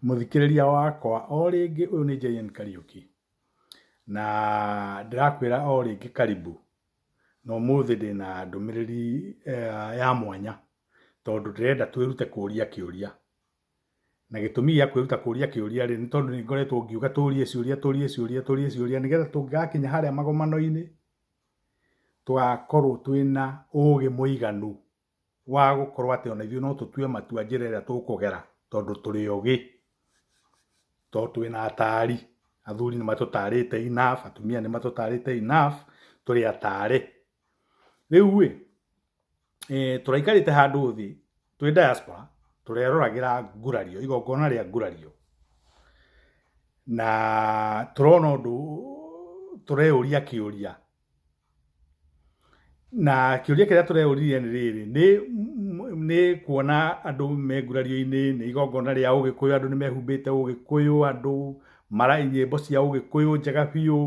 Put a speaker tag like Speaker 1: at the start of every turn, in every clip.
Speaker 1: Mũthikĩrĩria wakwa, o rĩngĩ ũyũ nĩ JN Kariũki, na ndĩrakwĩra o rĩngĩ karibu, na ũmũthĩ ndĩna ndũmĩrĩri eh, ya mwanya, tondũ ndĩrenda twĩrute kũũria kĩũria. Na gĩtũmi gĩa kwĩruta kũũria kĩũria rĩ, nĩ tondũ nĩ ngoretwo ngiuga tũũrie ciũria, tũũrie ciũria, tũũrie ciũria, nĩgetha tũngĩgakinya harĩa magomano-inĩ, tũgakorwo twĩna ũũgĩ mũiganu wa gũkorwo atĩ ona ithuĩ no tũtue matua njĩra ĩrĩa tũkũgera tondũ tũrĩ ogĩ, tondũ twĩna atari, athuri nĩ matũtarĩte enough, atumia nĩ matũtarĩte enough, tũrĩ atare. Rĩu rĩ, tũraikarĩte handũ thĩ twĩ diaspora tũreroragĩra ngurario, igongona rĩa ngurario na tũrona ũndũ, tũreyũria kĩũria. na kĩũria kĩrĩa tũreũririe nĩ rĩrĩ nĩ nĩ kuona andũ me ngurario-inĩ nĩ igongona rĩa ũgĩkũyũ andũ nĩ mehumbĩte ũgĩkũyũ andũ mara nyĩmbo cia ũgĩkũyũ njega biũ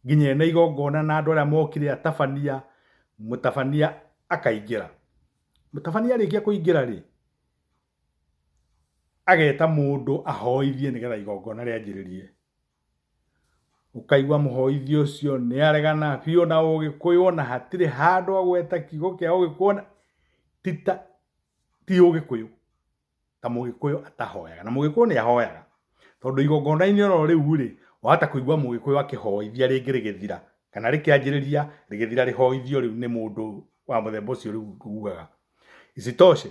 Speaker 1: nginya ena igongona na andũ arĩa mokire atabania mũtabania akaingĩra mũtabania arĩkia kũingĩra rĩ ageta mũndũ ahoithie nĩgetha igongona rĩanjĩrĩrie Ũkaigua mũhoithia ũcio nĩ aregana biũ na ũgĩkũyũ ona hatirĩ handũ agweta kiugo kĩa ũgĩkũyũ ona ti ta ti ũgĩkũyũ ta mũgĩkũyũ atahoyaga na mũgĩkũyũ nĩ ahoyaga tondũ igongona-inĩ oro rĩu rĩ wahota kũigua mũgĩkũyũ akĩhoithia rĩngĩ rĩgĩthira kana rĩkĩanjĩrĩria rĩgĩthira rĩhoithio rĩu nĩ mũndũ wa mũthemba ũcio rĩu ugaga isitoshe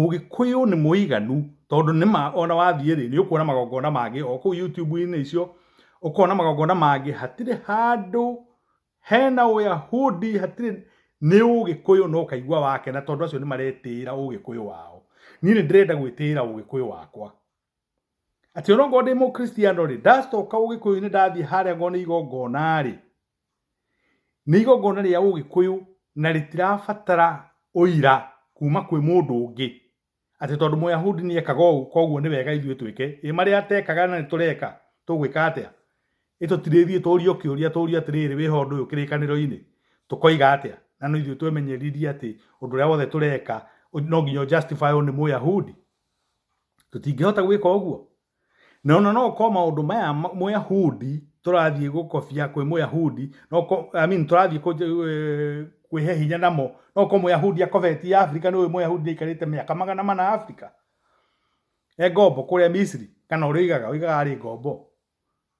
Speaker 1: Ũgĩkũyũ nĩ mũiganu tondũ nĩma ona wathiĩ rĩ, nĩ ũkuona magongona mangĩ o kũu YouTube-inĩ icio, ũkona magongona mangĩ, hatirĩ handũ hena ũyahudi, hatirĩ, nĩ ũgĩkũyũ na ũkaigua wakena tondũ acio nĩ maretĩĩra ũgĩkũyũ wao. Niĩ nĩ ndĩrenda gwĩtĩĩra ũgĩkũyũ wakwa. Atĩ onokorwo ndĩ mũkristiano rĩ, ndacoka ũgĩkũyũ-inĩ ndathiĩ harĩa ngorwo nĩ igongona rĩ, nĩ igongona rĩa ũgĩkũyũ na rĩtirabatara ũira kuma kwĩ mũndũ ũngĩ, atĩ tondũ mũyahudi nĩ ekaga ũũ koguo nĩ wega ithuĩ twĩke, ĩ marĩa atekaga na nĩ tũreka tũgwĩka atĩa? Ĩ tũtirĩthiĩ tũrio kĩũria tũrio atĩrĩrĩ wĩha ũndũ ũyũ kĩrĩkanĩro-inĩ tũkoiga atĩa? Na no ithuĩ twemenyereririe atĩ ũndũ ũrĩa wothe tũreka no nginya ũ justify wo nĩ mũyahudi? tũtingĩhota gwĩka ũguo na ona no ũkorwo maũndũ maya ma- mũyahudi tũrathiĩ gũkobia kwĩ mũyahudi no ũkorwo- I mean, tũrathiĩ kũ- eh, kwĩhe hinya namo no ũkorwo mũyahudi akobetie afrika nĩ ũyũ mũyahudi aikarĩte mĩaka magana mana afrika e ngombo kũrĩa misiri kana ũrĩa ũigaga ũigaga arĩ ngombo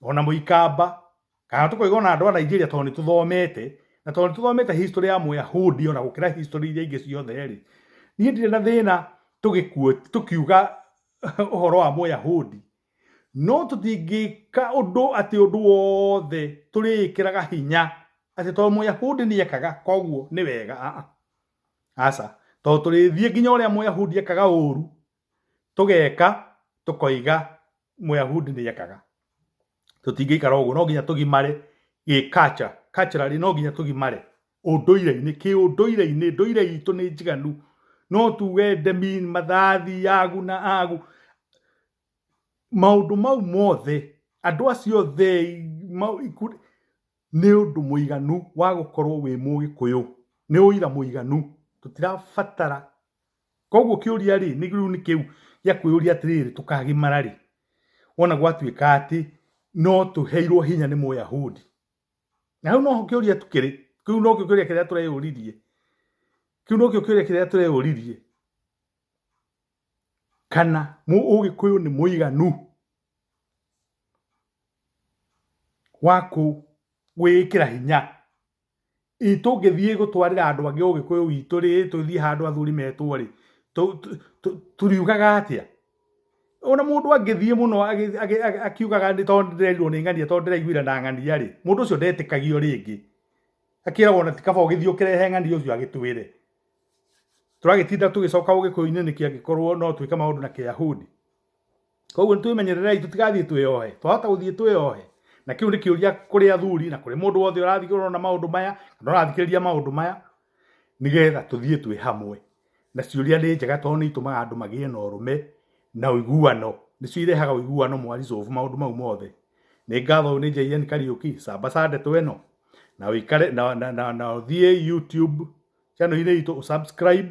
Speaker 1: ona mũikamba kana tũkoiga ona andũ a Nigeria tondũ nĩ tũthomete na tondũ nĩ tũthomete history ya mũyahudi ona gũkĩra history iria ingĩ ciothe rĩ niĩ ndirĩ na thĩna tũkiuga ũhoro wa mũyahudi no tũtingĩka ũndũ atĩ ũndũ wothe tũrĩĩkĩraga hinya atĩ tondũ mũyahudi nĩ ekaga koguo nĩ wega aca tondũ tũrĩthiĩ nginya ũrĩa mũyahudi ekaga ũru tũgeka tũkoiga mũyahudi nĩ ekaga tũtingĩikara ũguo no nginya tũgimare gĩ culture culturally no nginya tũgimare ũndũire-inĩ kĩ ũndũire-inĩ ndũire itũ nĩ njiganu no tuge ndemi mathathi yagu na agu maũndũ mau mothe andũ acio the Nĩ ũndũ mũiganu wa gũkorwo wĩ mũgĩkũyũ, nĩ ũira mũiganu, tũtirabatara, koguo kĩũria rĩ, nĩ rĩu nĩ kĩu gĩa kwĩyũria atĩrĩrĩ, tũkagimara rĩ, wona gwatuĩka atĩ no tũheirwo hinya nĩ Mũyahudi? Na hau noho kĩũria kĩrĩ, kĩu nokĩo kĩũria kĩrĩa tũreyũririe, kĩu nokĩo kĩũria kĩrĩa tũreyũririe, kana mũgĩkũyũ nĩ mũiganu? wa kũwĩkĩra hinya. Hihi tũngĩthiĩ gũtwarĩra andũ angĩ ũgĩkũyũ witũ rĩ, tũthiĩ handũ athuri metwo rĩ, tũriugaga atĩa? Ona mũndũ angĩthiĩ mũno akiugaga nĩ tondũ ndĩrerirwo nĩ ng'ania tondũ ndĩraiguire na ng'ania rĩ, mũndũ ũcio ndetĩkagio rĩngĩ. Akeragwo ona ti kaba ũgĩthiĩ ũkĩrehe ng'ania ũcio agĩtwĩre. Tũragĩtinda tũgĩcoka ũgĩkũyũ-inĩ nĩkĩ angĩkorwo no twĩke maũndũ na Kĩyahudi? koguo nĩ twĩmenyererei tũtigathiĩ twĩyohe twahota gũthiĩ twĩyohe na kĩu nĩ kĩũria kũrĩ athuri na kũrĩ mũndũ wothe ũrathiĩ ũrona maũndũ maya kana ũrathikĩrĩria maũndũ maya nĩgetha tũthiĩ twĩ hamwe na ciũria nĩ njega tondũ nĩ itũmaga andũ magĩe na ũrũme na ũiguano nĩcio irehaga ũiguano mwaricovu maũndũ mau mothe nĩ ngatho ũyũ nĩ JN Kariũki cambacande tweno na wĩkare na, na, na, na ũthiĩ YouTube channel-inĩ itũ ũsubscribe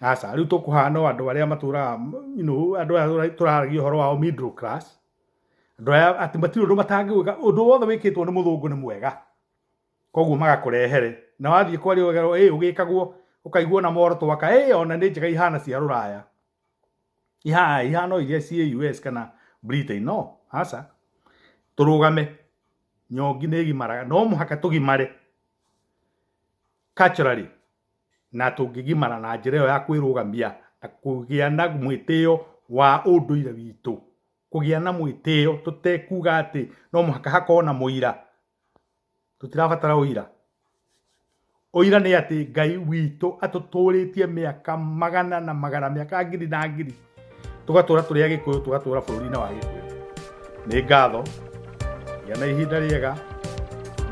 Speaker 1: aca rĩu tũkũhana andũ arĩa matũraga you know, andũ arĩa tũraragia ũhoro wao middle class andũ arĩa atĩ matirĩ ũndũ matangĩwĩka ũndũ wothe wĩkĩtwo nĩ mũthũngũ nĩ mwega koguo magakũrehere na wathiĩ kwaria ũgerwo ĩ ũgĩkagwo ũkaigua na moro twaka ĩ ona nĩ njega ihana cia rũraya ihana ihana iria ciĩ US kana Britain no aca tũrũgame nyongi nĩ ĩgimaraga no mũhaka tũgimare culturally na tũngĩgimara na njĩra ĩyo ya kwĩrũgamia na kũgĩa na mwĩtĩo wa ũndũire witũ, kũgĩa na mwĩtĩo tũtekuga atĩ no mũhaka hakorwo na mũira, tũtirabatara ũira. Ũira nĩ atĩ Ngai witũ atũtũrĩtie mĩaka magana na magana, mĩaka ngiri na ngiri. tũgatũra tũrĩ agĩkũyũ tũgatũra bũrũri-inĩ wa gĩkũyũ nĩ ngatho gĩa na ihinda rĩega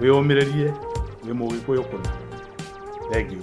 Speaker 1: wĩyũmĩrĩrie wĩ mũgĩkũyũ kũna thengiũ